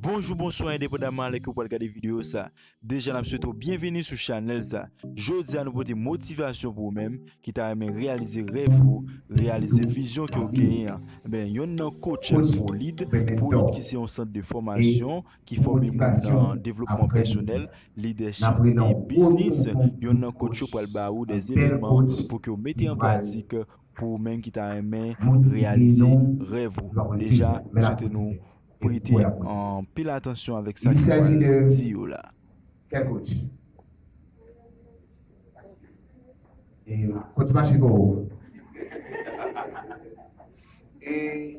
Bonjou, bonswa, endepandaman alè ke ou pral gade video sa. Deja nap swete ou byenveni sou chanèl sa. Jodi a nou pote motivasyon pou ou menm ki ta renmen reyalize rèv ou, reyalize vizyon ke ou genyen an. Enben, yonn nan coach Prolid, Prolid ki se yon sant de fòmasyon, ki fòme moun nan devlopman pèsonèl, lidèchip e biznis, yonn nan kotch yo pral ba ou des eleman pou ke w mete an pratik pou ou menm ki ta renmen reyalize rèv ou. Deja, m swete nou prete anpil atansyon avèk sa ki pral di yo la. Kè kotch e kotch mache ko ou e.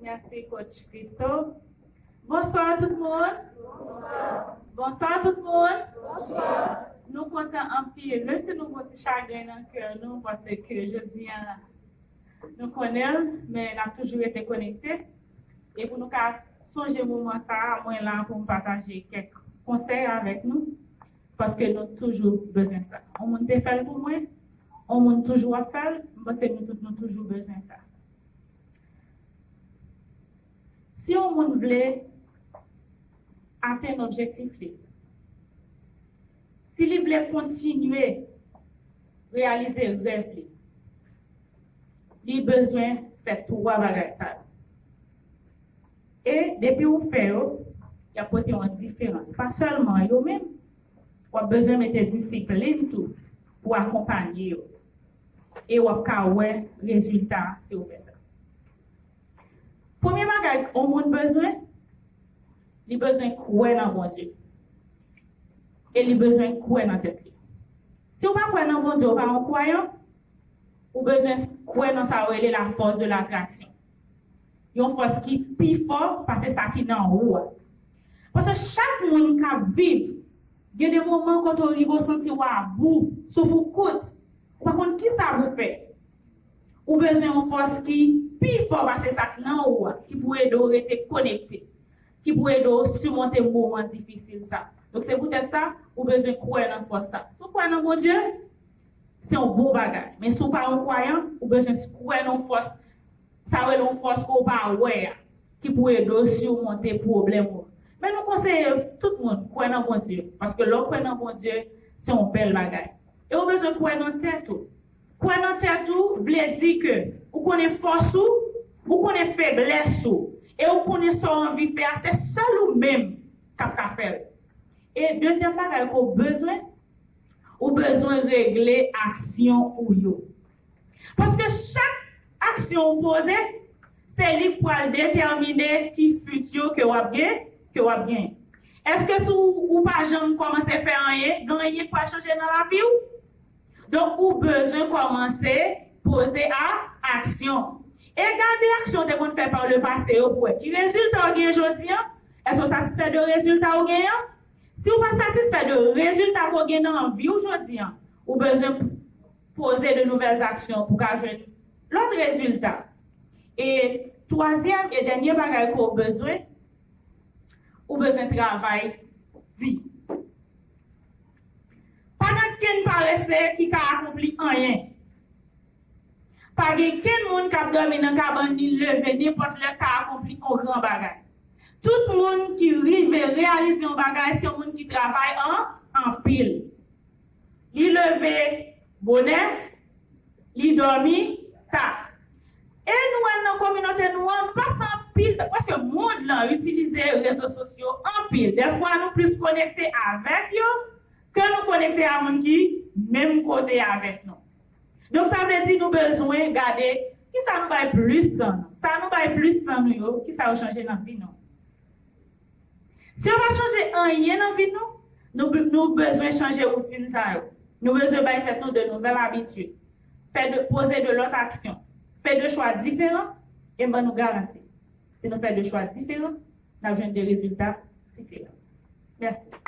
Merci coach Christo. Bonsoir tout moun. Bonsoir tout moun. Nou kontan anpil. Menm si nou gon ti chagren nan kè nou pase ke jodi an nou konnen l men nap toujou rete konekte. E pou nou ka sonje moman sa a mwen la pou m pataje kèk konsèy avèk nou. Paske nou toujou bezwen sa. On moun te fè l pou mwen, on moun toujou ap fè l, m panse nou tout nou toujou bezwen sa. Si on moun vle atenn objektif li, si li vle kontinye reyalize rèv li, li bezwen fè twa bagay sa yo. E depi ou fè yo, y ap pote yon diferans. Pa sèlman yo men, w ap bezwen mete disiplin tou pou w akonpanye yo. E w ap ka wè rezilta si w fè sa. Premye bagay yon moun bezwen, li bezwen kwè nan Bondye. E li bezwen kwè nan tèt li. Si w pa kwè nan Bondye, w pa yon kwayan, ou bezwen kwè nan sa yo rele lafòs de latraksyon. Yon fòs ki pi fò pase sa ki nan ou a. Paske chak moun ka viv. Gen de moman kote w rive w santi w abou, souf ou kout, ou pa konn kisa pou w fè. Ou bezwen yon fòs ki pi fò pase sa k nan ou a ki pou ede w rete konekte, ki pou ede w simonte moman difisil sa. Donk se poutèt sa, ou bezwen kwè nan fòs sa. Si w kwè nan Bondye, Se yon bon bagay. Men si w pa yon kwayan, ou bezwen kwè nan yon fòs, sa yo rele yon fòs ke w pa wè a, ki pou ede w simonte pwoblèm ou. Men nou konseye tout moun kwè nan Bondye, paske lè w kwè nan Bondye, se yon bèl bagay. E ou bezwen kwè nan tèt ou. Kwè nan tèt ou vle di ke ou konnen fòs ou, ou konnen feblès ou, e ou konnen sa w anvi fè a, se sèl ou menm k ap ka fè l. E dezyèm bagay ke w bezwen. Ou bezwen regle aksyon ou yo. Paske chak aksyon ou poze, se li k pral detèmine ki futur ke wap gen, ke wap gen. Eske si ou pa janm kòmanse fè anyen, gen anyen k pral chanje nan lavi ou? Donk ou bezwen kòmanse poze a aksyon. E gade aksyon ou te konn fè par le passé yo pou wè ki rezilta ou gen jodi an? Eske ou satisfè de rezilta ou gen an? Si w pa satisfè de rezilta ke w gen nan vi w jodi an, ou bezwen poze de nouvèl zaksyon pou w ka jwenn lòt rezilta. E twazyèm e dènye bagay ke w bezwen, ou bezwen travay di. Pa gen okenn parese ki ka akonpli anyen. Pa gen kenn moun k ap dòmi nan kabann li leve nenpòt lè ka akonpli yon gran bagay. Tout moun ki rive reyalize yon bagay se yon moun ki travay an anpil. Li leve bonè, li dòmi ta. E nou wè nan kominote nou an, nou pase anpil tan, paske mond lan itilize rezo sosyo anpil. Dèfwa nou plis konekte avèk yo ke nou konekte a moun ki menm kote avèk nou. Donk sa vle di nou bezwen gade kisa nou bay plis tan nou. Sa nou bay plis tan nou yo, kisa yo chanje nan vi nou? Si yo pa chanje anyen nan vi nou, nou nou bezwen chanje woutin sa yo. Nou bezwen bay tèt nou de nouvèl abitid, fè de poze de lòt aksyon, fè de chwa diferan e m ban nou garanti, si nou fè de chwa diferan, n ap jwenn de rezilta diferan. Mèsi.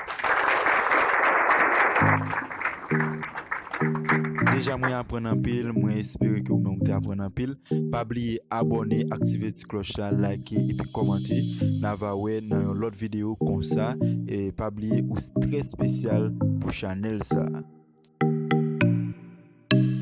Deja mwen aprann anpil, mwen espere ke ou menm ou te aprann anpil. Pa bliye abòne, aktive ti klòch la, like epi kòmante. N a va wè nan yon lòt videyo konsa. E pa bliye ou trè spesyal pou chanèl sa.